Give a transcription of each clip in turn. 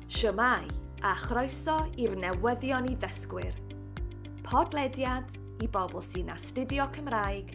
Shwmae, a chroeso i'r newyddion i ddysgwyr. Podlediad i bobl sy'n astudio Cymraeg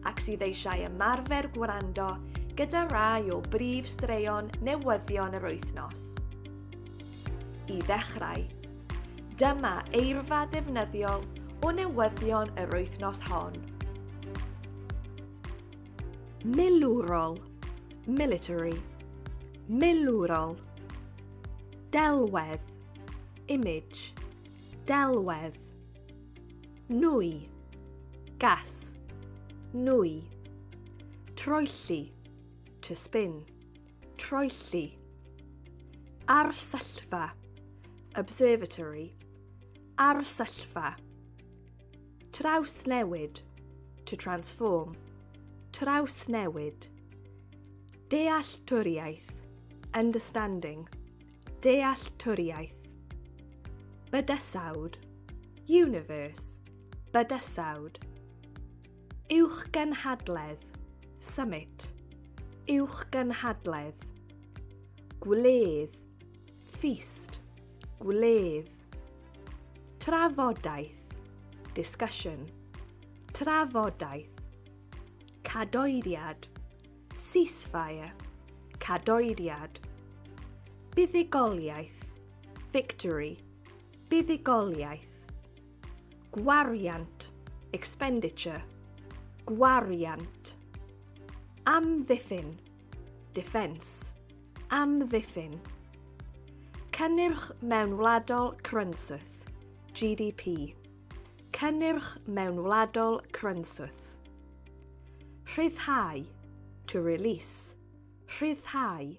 ac sydd eisiau ymarfer gwrando gyda rai o brif straeon newyddion yr wythnos. I ddechrau, dyma eirfa ddefnyddiol o newyddion yr wythnos hon. Milwrol, military. Milwrol. Delwedd, image. Delwedd. Nwy, gas. Nwy. Troelli, to spin. Troelli. Arsyllfa, observatory. Arsyllfa. Trawsnewid, to transform. Trawsnewid. Dealltwriaeth, understanding. Dealltwriaeth. Bydysawd, universe. Bydysawd. Uwch gynhadledd, summit. Uwch gynhadledd. Gwledd, Feast, gwledd. Trafodaeth, discussion. Trafodaeth, cadoediad. Ceasefire, cadoediad. Buddugoliaeth, victory. Buddugoliaeth. Gwariant, expenditure. Gwariant. Amddiffyn, Defence. Amddiffyn. Cynnyrch mewnwladol crynswth, GDP. Cynnyrch mewnwladol crynswth. Rhyddhau. To release. Rhyddhau.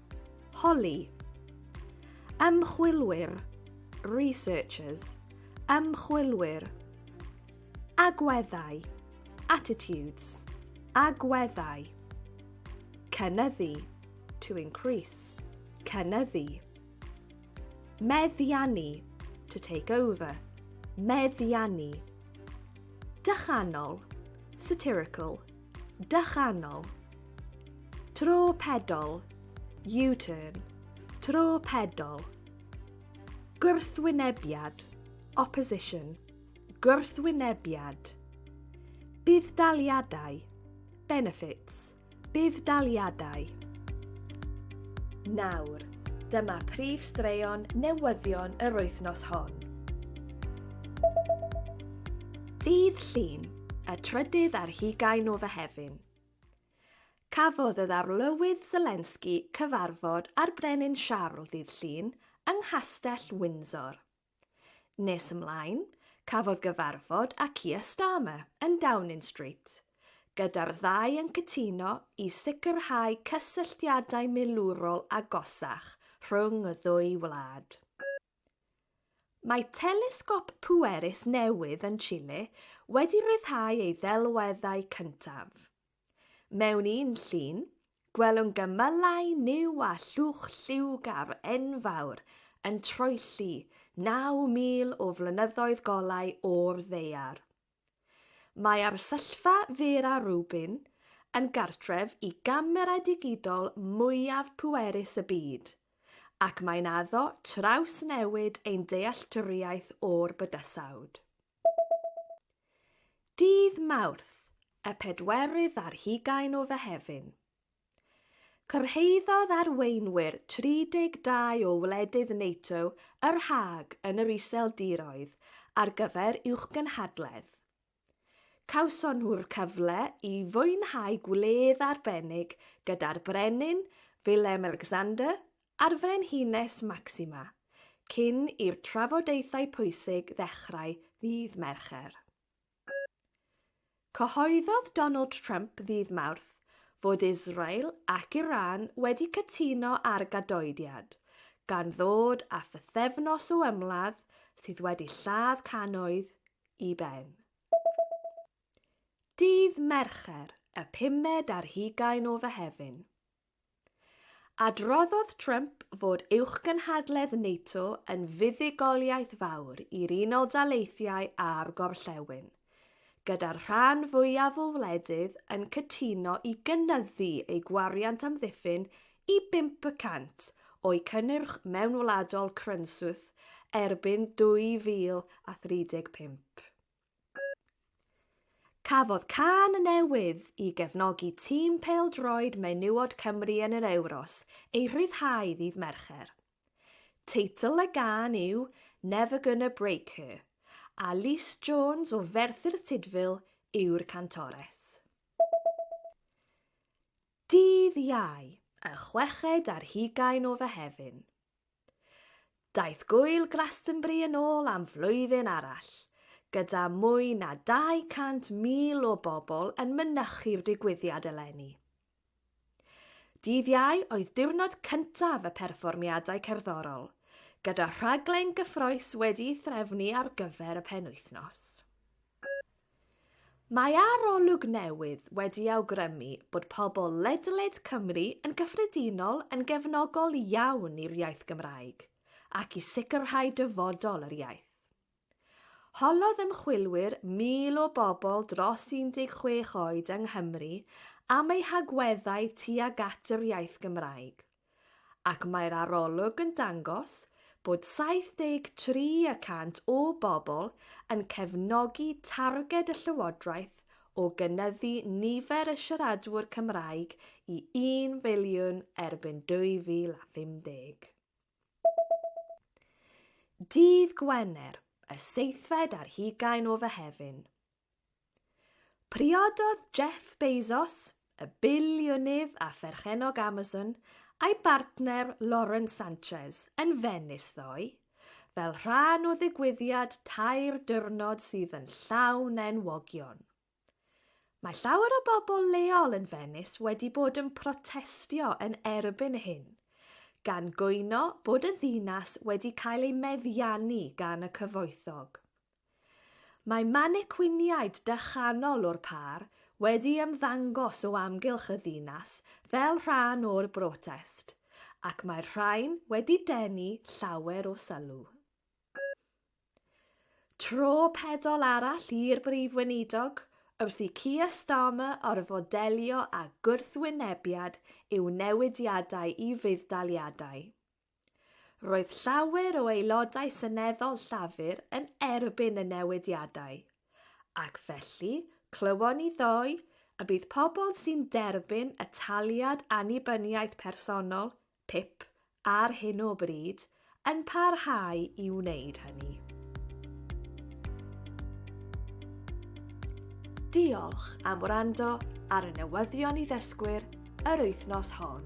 Holi. Ymchwilwyr, researchers, ymchwilwyr. Agweddau, attitudes, agweddau. Cynyddu, to increase, cynyddu. Meddiannu, to take over, meddiannu. Dychanol, satirical, Dychanol. Tro pedol. U-turn. Tro pedol. Gwrthwynebiad. Opposition. Gwrthwynebiad. Budd-daliadau. Benefits. Budd-daliadau. Nawr, dyma prif straeon newyddion yr wythnos hon. Dydd Llun. Y trydydd ar hugain o Fehefin. Cafodd y ddarlywydd Zelensky cyfarfod â'r Brenin Siarl ddydd Llun yng Nghastell Windsor. Nes ymlaen, cafodd gyfarfod â Keir Starmer yn Downing Street, gyda'r ddau yn cytuno i sicrhau cysylltiadau milwrol agosach rhwng y ddwy wlad. Mae telesgop pwerus newydd yn Chile wedi rhyddhau ei ddelweddau cyntaf. Mewn un llun, gwelwn gymylau niw a llwch lliwgar enfawr yn troelli 9,000 o flynyddoedd golau o'r ddaear. Mae arsyllfa Vera Rubin yn gartref i gamerâu digidol mwyaf pwerus y byd, ac mae'n addo trawsnewid ein dealltwriaeth o'r bydysawd. Dydd Mawrth, y pedwerydd ar hugain o Fehefin. Cyrhaeddodd arweinwyr 32 o wledydd NATO yr Hague yn yr Iseldiroedd ar gyfer uwchgynhadledd. Cawson nhw'r cyfle i fwynhau gwledd arbennig gyda'r Brenin Willem-Alexander a'r Frenhines Maxima, cyn i'r trafodaethau pwysig ddechrau ddydd Mercher. Cyhoeddodd Donald Trump ddydd Mawrth fod Israel ac Iran wedi cytuno ar gadoediad, gan ddod â phythefnos o ymladd sydd wedi lladd cannoedd i ben. Dydd Mercher, y pumed ar hugain o Fehefin. Adroddodd Trump fod uwchgynhadledd NATO yn fuddugoliaeth fawr i'r Unol Daleithiau a'r Gorllewin, gyda'r rhan fwyaf o wledydd yn cytuno i gynyddu eu gwariant amddiffyn i 5% o'u cynnyrch mewnwladol crynswth erbyn 2035. Cafodd cân newydd i gefnogi tîm pêl-droed menywod Cymru yn yr Ewros ei rhyddhau ddydd Mercher. Teitl y gân yw 'Never Gonna Break Her', a Lys Jones o Ferthyr Tudful yw'r cantores. Dydd Iau, y chweched ar hugain o Fehefin. Daeth Gŵyl Glastonbury yn ôl am flwyddyn arall, gyda mwy na 200,000 o bobl yn mynychu'r digwyddiad eleni. Dydd Iau oedd diwrnod cyntaf y perfformiadau cerddorol, gyda rhaglen gyffrous wedi'i threfnu ar gyfer y penwythnos. Mae arolwg newydd wedi awgrymu bod pobl ledled Cymru yn gyffredinol yn gefnogol iawn i'r iaith Gymraeg ac i sicrhau dyfodol yr iaith. Holodd ymchwilwyr 1,000 o bobl dros 16 oed yng Nghymru am eu hagweddau tuag at yr iaith Gymraeg. ac mae'r arolwg yn dangos bod 73 y cant o bobl yn cefnogi targed y Llywodraeth o gynyddu nifer y siaradwyr Cymraeg i un filiwn erbyn 2050. Dydd Gwener, y seithfed ar hugain o Fehefin. Priododd Jeff Bezos, y biliwnydd a pherchennog Amazon, a'i bartner Lauren Sanchez yn Fenis ddoe, fel rhan o ddigwyddiad tair diwrnod sydd yn llawn enwogion. Mae llawer o bobl leol yn Fenis wedi bod yn protestio yn erbyn hyn, gan gwyno bod y ddinas wedi cael ei meddiannu gan y cyfoethog. Mae manikwiniaid dychanol o'r pâr wedi ymddangos o amgylch y ddinas fel rhan o'r brotest, ac mae'r rhain wedi denu llawer o sylw. Tro pedol arall i'r Brif Weinidog wrth i Keir Starmer orfod delio â gwrthwynebiad i'w newidiadau i fudd-daliadau. Roedd llawer o aelodau seneddol Llafur yn erbyn y newidiadau, ac felly clywon ni ddoe y bydd pobl sy'n derbyn y taliad annibyniaeth personol, pip, ar hyn o bryd, yn parhau i wneud hynny. Diolch am wrando ar y newyddion i ddysgwyr yr wythnos hon.